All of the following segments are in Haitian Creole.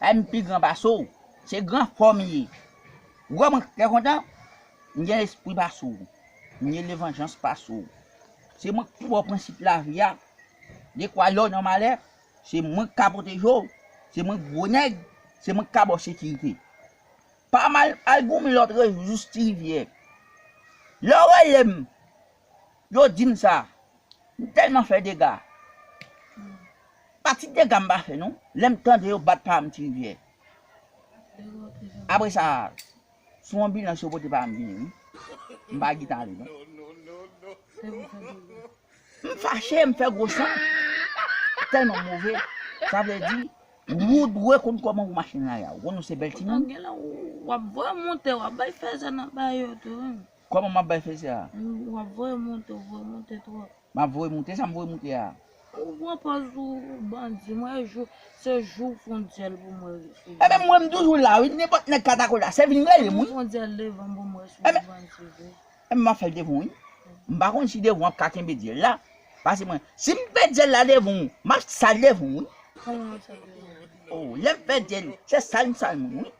Ay m pi gran pase w. Se gran fò m ye. Ou wè mwen trè kontan? M gen lespri pase w. M gen levanjans pase w. Se mwen k pi ba w prensip lavi a. Dekwa lè w nan malè, se mwen k ka pwoteje w. Se mwen gwo nèg, se mwen k ka ba w sekirite. Pa mal, al goumen lòt rejou jous Tirivyè. Lè w rele m. Yo dim sa, m telman fè dega. Pa ti dega m pa fè non, lèm tande yo bat pa m ti rivyè. Apre sa, sou anbilans yo pote pa m vini wi. M pa git ale non. M fache, m fè gwo san. Telman move, sa vle di wou dwe konn koman wou mache nan lari a. Ou konnen w se bèl timoun. Koman map bay feyz ya. Ou ap voye moute ou voye moute trop. Map voye moute esam voye moute ya. Ou pran pòz ou bandi mwen e jou se jou ou fon dyèl pou mwen res ou bandi. Ebyen mwen m toujou la wi nenpòt nèg ka tako la se vin relem wi. Ebyen fon dyèl devanm pou mwen res ou bandi vre. Ebyen map fèl devan w wi. M pa konn si devan w ap ka kenbe dyèl la pase mwen sim fè dyèl la devan w map sal devan w wi. Koman wap sal devan mwen. Ohh lèm fè dyèl se sal m sal moun wi.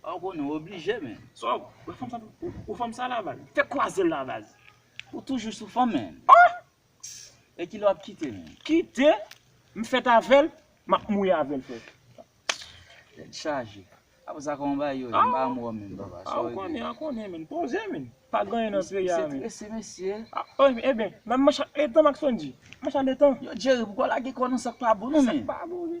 Ou konnen ou oblije men. Sa ou fanm sa ou fanm sa la baz. Fè kwazel la baz. Ou toujou sou fanm men. Ohh. E kilè wap kite men. Kite? M fèt avèl, map mouri avèl frè. Tèt chaje. Aprè sa kòman bagay yo ye? M pa anmwe w menm papa. Sa ou konnen an konnen men. Poze men. Pa gen anyen nan peyi a men. Misye trese mesye. Ohh e ben. Nan m mach ak Ethan m ak Sondji. M mach ak Ethan. Yo Jerry poukò w lage kò w nan sak pa bon non men. Sak pa bon wi.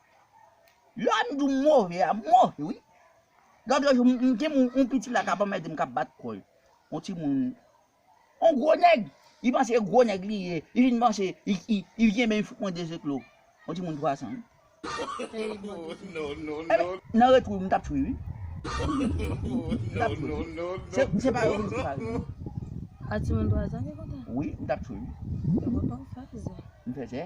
Lè m di w m move a, m move wi. Lòt lòt jou, m gen yon piti la k ap anmède m, k ap bat kò l. Yon timoun, yon gwo nèg, li panse se gwo nèg li ye, li vin panse li kenbe m, li fout mwen de zeklo. Yon timoun twasan wi. Nan retou, m t ap tou l wi. M t ap tou l wi. Se pa yo m te pale non. A timoun twasan ki kontan? Wi, m t ap tou l wi. Yo kontan w fèzè. M fèzè?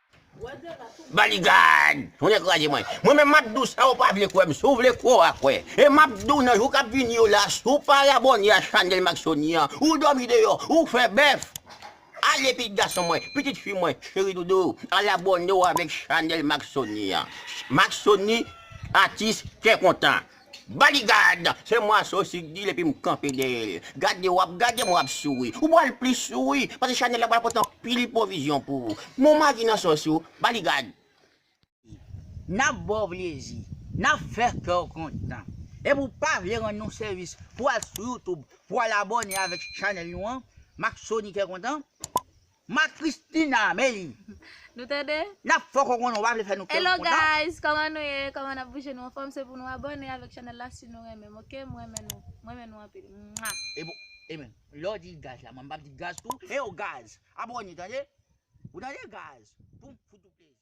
Baligad! Ou dekouraje mwen. Mwen menm map dou sa ou pa vle kwè m, si w vle kwè w a kwè. E map di w nan jou kap vini yo la, si w pa abòne a chanèl Max Sony an, ou dòmi deyò, ou fè bèf! Ale pitit gason mwen, pitit fi mwen, cheri doudou, al abòne w avèk chanèl Max Sony an. Max Sony, atis kè kontan. Bodyguard! Se mwa so si k dil epi m kanpe dèyè l. Gade w ap gade m w ap souri. Ou pral plis souri paske chanèl la pral pote anpil pwovizyon pou ou. Men w magi nan sòs yo. Bodyguard! N ap ba w plezi. N ap fè kè w kontan. Epi w pa vle rann nou sèvis pou w al sou YouTube pou w al abòne avèk chanèl nou an, Maxony Kè Kontan? Ma Christina men Nou tande? Nap fè w konprann ou pa vle fè nou kè w kontan. Hello guys kòman nou ye kòman nap bouje nou anfòm se pou nou abòne avèk chanèl la si nou renmen m ok m renmen nou m renmen nou anpil mwah. Ebon Emen lè w di gaz la mwen m pap di gaz tou. Heyw gaz abòne tande ou tande gaz poum fout ou plezi.